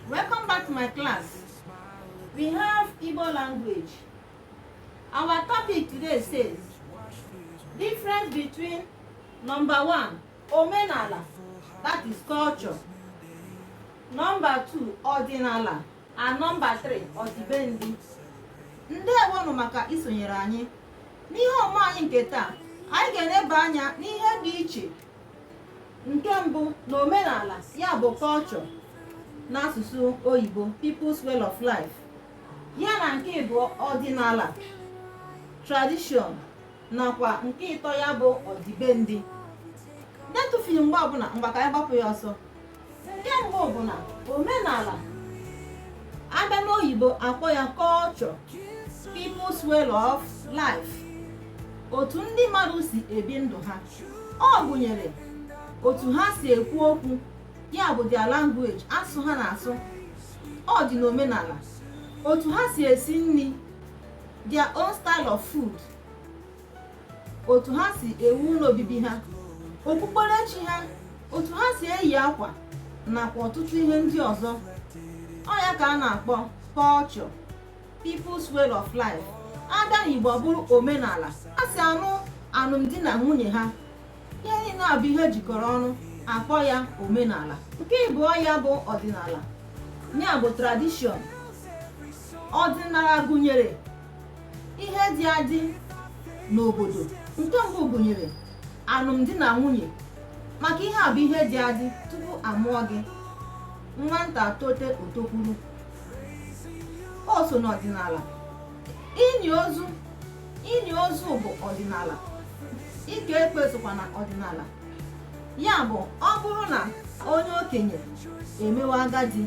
Welcome back to my class. We have Igbo language. Our topic today says difference between number one, omenala, that is culture. Number two, ọdịnala, and number three, ọdịbendị. Ndewonụ maka isonyere anyị. N'ihe ọmụmụ anyị nke taa, anyị ga-eleba anya n'ihe dị iche nke mbụ na omenala ya bụ culture n'asụsụ oyibo people's way of life ya na nke ịbụọ ọdịnala tradition nakwa nke ịtọ ya bụ ọdịbendị na-etufughi mgbe ọbụla ngwa ka anyị gbapụ ya ọsọ nke mbụ bụ na omenala a bịa n'oyibo a kpọọ ya culture people's way of life otu ndị mmadụ si ebi ndụ ha ọ gụnyere otu ha si ekwu okwu ya bụ their language asụsụ ha na-asụ ọ dị n'omenala otu ha si esi nri their own style of food otu ha si ewu ụlọ obibi ha okpukperechi ha otu ha si eyi akwa nakwa ọtụtụ ihe ndị ọzọ ọ ya ka a na-akpọ culture people's way of life a bịa n'Igbo ọ bụrụ omenala ha si anụ alụmdi na nwunye ha ihe niile a bụ ihe e jikọrọ ọnụ a kpọọ ya omenala nke ịbụọ ya bụ ọdịnala ya bụ tradition ọdịnala gụnyere ihe dị adị n'obodo nke mbụ gụnyere alụmdi na nwunye maka ihe a bụ ihe dị adị tupu a mụọ gị nwata tote o tokwuru o so n'ọdịnala ini ozu ini ozu bụ ọdịnala ike ekpe sokwa na ọdịnala ya bụ ọ bụrụ na onye okenye emewe agadi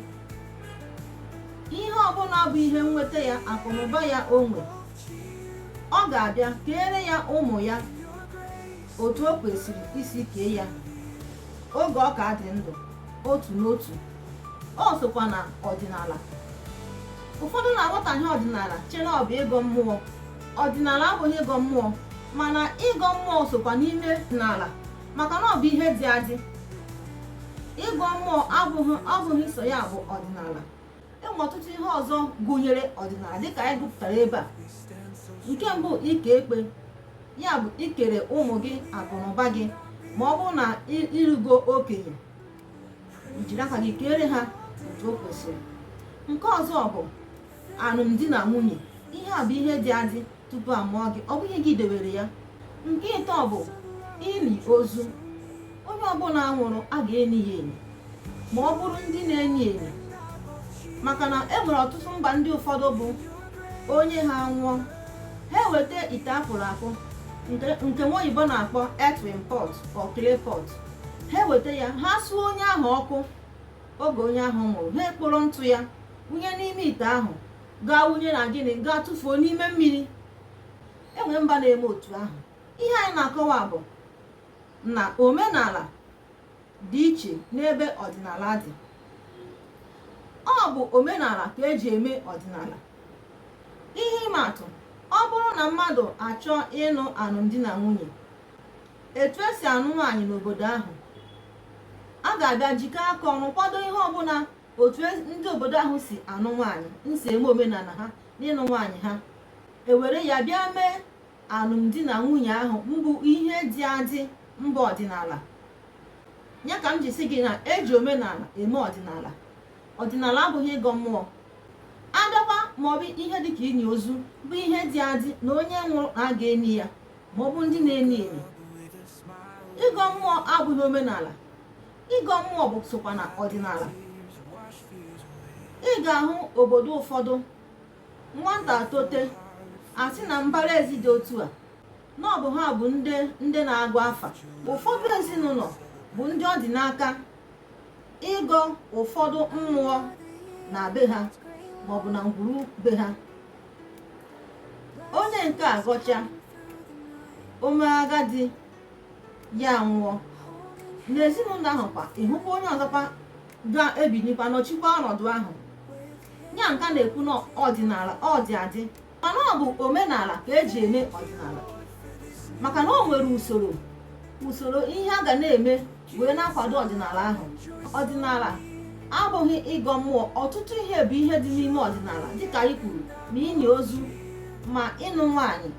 ihe ọbụla bụ ihe nweta ya akụnụba ya o nwe ọ ga-abịa keere ya ụmụ ya otu o kwesịrị isi kee ya oge ọ ka dị ndụ otu n'otu o sokwa na ọdịnala ụfọdụ na-aghọtahie ọdịnala chee na ọ bụ ịgọ mmụọ ọdịnala abụghị ịgọ mmụọ mana ịgọ mmụọ sokwa n'ime ọdịnala maka na ọ bụ ihe dị adị ịgọ mmụọ abụghị abụghị sọ ya bụ ọdịnala e nwe ọtụtụ ihe ọzọ gụnyere ọdịnala dịka anyị gụpụtara ebe a nke mbụ ike ekpe ya bụ ikere ụmụ gị akụnụba gị ma ọ bụrụ na i rugo okenye jiri aka gị keere ha otu o kwesịrị nke ọzọ bụ alụmdi na nwunye ihe a bụ ihe dị adị tupu a mụọ gị ọ bụghị gị dewere ya nke ịtọ bụ ini ozu onye ọbụla nwụrụ a ga-eni ya eni ma ọ bụrụ ndị na-eni eni maka na e nwere ọtụtụ mba ndị ụfọdụ bụ onye ha nwụọ ha eweta ite akpụrụ akpụ nke nwa oyibo na-akpọ earthen pot or clay pot ha eweta ya ha suo onye ahụ ọkụ oge onye ahụ nwụrụ ha ekporo ntụ ya wụnye n'ime ite ahụ gaa wụnye na gịnị gaa tụfuo n'ime mmiri enwe mba na-eme otu ahụ ihe anyị na-akọwa bụ na omenala dị iche n'ebe ọdịnala dị ọ bụ omenala ka eji eme ọdịnala ihe ịma atụ ọ bụrụ na mmadụ achọọ ịnụ anụmdi na nwunye etu esi anụ nwaanyị n'obodo ahụ a ga-abịa jikọọ aka ọnụ kwado ihe ọbụla otu ndị obodo ahụ si anụ nwaanyị nsi eme omenala ha n'ịnụ nwaanyị ha ewere ya bịa mee anụmdi na nwunye ahụ mbụ ihe dị adị mba ọdịnala ya ka m ji sị gị na eji omenala eme ọdịnala ọdịnala abụghị ịgọ mmụọ abịakwa maọbụ ihe dịka ini ozu bụ ihe dị adị na onye nwụrụ na a ga-eni ya maọbụ ndị na-eni eni ịgọ mmụọ abụghị omenala ịgọ mmụọ bụ sokwa na ọdịnala ị ga-ahụ obodo ụfọdụ nwata tote asị na mbara ezi dị otu a na ọ bụ ha bụ ndị na-agba afa ụfọdụ ezinụlọ bụ ndị ọ dị n'aka ịgọ ụfọdụ mmụọ na be ha maọbụ na ngwuru be ha onye nke a gọcha o mee agadi ya nwụọ n'ezinụlọ ahụ kwa ị hụkwa onye ọzọkwa ga-ebinikwa nọchikwa ọnọdụ ahụ ya nka na-ekwu na ọdịnala ọ dị adị mana ọ bụ omenala ka eji eme ọdịnala maka na o nwere usoro usoro ihe a ga na-eme wee na-akwado ọdịnala ahụ ọdịnala abụghị ịgọ mmụọ ọtụtụ ihe bụ ihe dị n'ime ọdịnala dịka anyị kwuru ma ini ozu ma ịnụ nwaanyị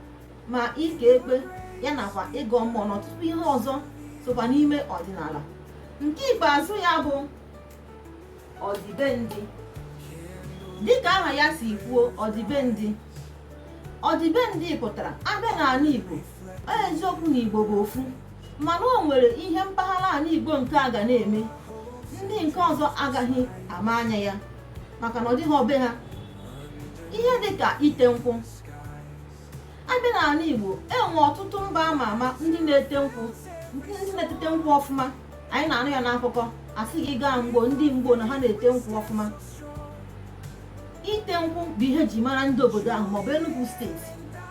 ma ike ekpe ya nakwa ịgọ mmụọ na ọtụtụ ihe ọzọ sokwa n'ime ọdịnala nke ikpeazụ ya bụ ọdịbendị dịka aha ya si kwuo ọdịbendị ọdịbendị pụtara a bịa n'anị Igbo eziokwu na Igbo bụ ofu mana o nwere ihe mpaghara anị Igbo nke a ga na-eme ndị nke ọzọ agaghị ama anya ya maka na ọ dịhọ be ha ihe dịka ite nkwụ abịa n'ala Igbo enwe ọtụtụ mba ama ama ndị na-ete nkwụ ndị na-etete nkwụ ọfụma anyị na-anụ ya n'akụkọ asị gị gaa mgbo ndị mgbo na ha na-ete nkwụ ọfụma ite nkwụ bụ ihe ji mara ndị obodo ahụ maọbụ Enugu steeti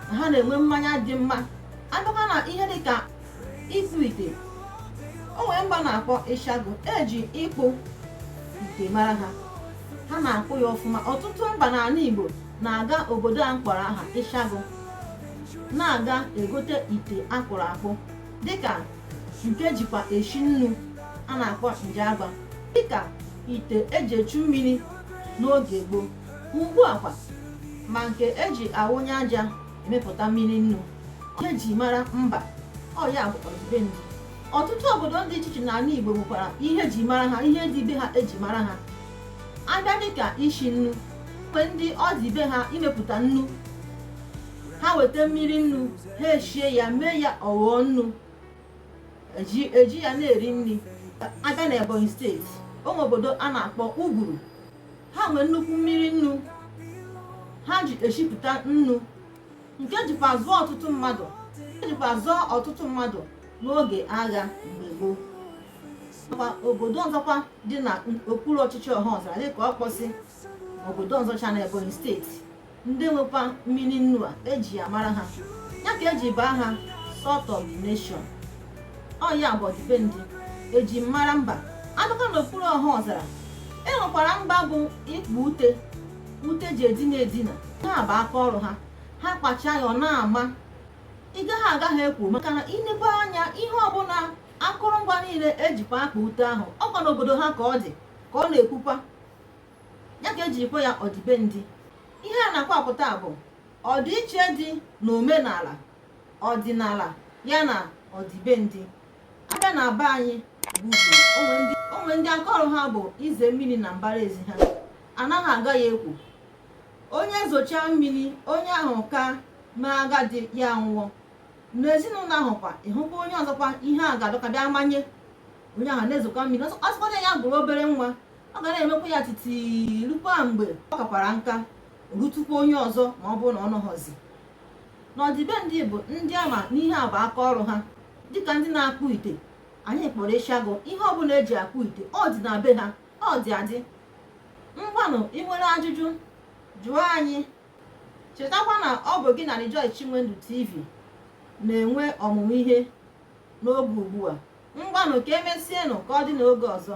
na ha na-enwe mmanya dị mma abịakwa na ihe dịka ịkpụ ite o nwere mba na-akpọ ịshagụ eji ịkpụ ite mara ha ha na-akpụ ya ọfụma ọtụtụ mba n'ala Igbo na-aga obodo a m kpọrọ aha ịshagụ na-aga egote ite akpụrụ akpụ dịka nke ejikwa eshi nnu a na-akpọ njagba dịka ite eji echu mmiri n'oge gboo ugbu a kwa ma nke eji awụnye aja emepụta mmiri nnu ihe ji mara mba ọ ya bụ ọdịbendị ọtụtụ obodo dị iche iche n'ala Igbo nwekwara ihe ji mara ha ihe dị be ha eji mara ha abịa dịka ishi nnu enwe ndị ọ dị be ha imepụta nnu ha weta mmiri nnu ha eshie ya mee ya ọ ghọọ nnu eji ya na-eri nri abịa na ebonyi steeti o nwe obodo a na-akpọ uburu ha nwee nnukwu mmiri nnu ha ji eshipụta nnu nke jikwa zụọ ọtụtụ mmadụ jikwa zụọ ọtụtụ mmadụ n'oge agha mgbe gboo obodo ọzọkwa dị na okpuru ọchịchị ọhaọzara dịka ọkpọsị obodo ọzọcha na ebonyi steeti ndị nwekwa mmiri nnu a eji ya mara ha ya ka eji baa ha salt of the nation ọ ya bụ ọdịbendị eji mara mba abịakwa na okpuru ọhaọzara e nwekwara mba bụ ịkpa ute ute ji edina edina ha bụ aka ọrụ ha ha kpachaa ya ọ na-ama ị gaghị agaghị ekwu maka na inebe anya ihe ọbụla akụrụngwa niile ejikwa akpa ute ahụ ọkwa n'obodo ha ka ọ dị ka ọ na-ekwukwa ya ka ejirikwa ya ọdịbendị ihe a na-akọwapụta bụ ọdịiche dị n'omenala ọdịnala ya na ọdịbendị abịa na be anyị bụ o nwe ndị aka ọrụ ha bụ ize mmiri na mbara ezi ha anaghị aga ya ekwu onye zochaa mmiri onye ahụ ka mee agadi ya nwụọ n'ezinụlọ ahụ kwa ịhụkwa onye ọzọkwa ihe a ga-adọka bịa manye onye ahụ na-ezokwa mmiri ọ sịkwadị ya bụrụ obere nwa ọ ga na-emekwa ya titi rukwa mgbe ọ kakwara nka rutukwa onye ọzọ ma ọ bụrụ na ọ nọghọzi n'ọdịbendị bụ ndị ama na ihe a bụ aka ọrụ ha dịka ndị na-akpụ ite anyị kpọrọ ịshagụ ihe ọbụla eji akpụ ite ọ dị na be ha ọ dị adị ngwanụ ị nwere ajụjụ jụọ anyị chetakwa na ọ bụ gị na Rejoice Chinwendu TV na-enwe ọmụmụ ihe n'oge ugbu a ngwanụ ka emesienụ ka ọ dị n'oge ọzọ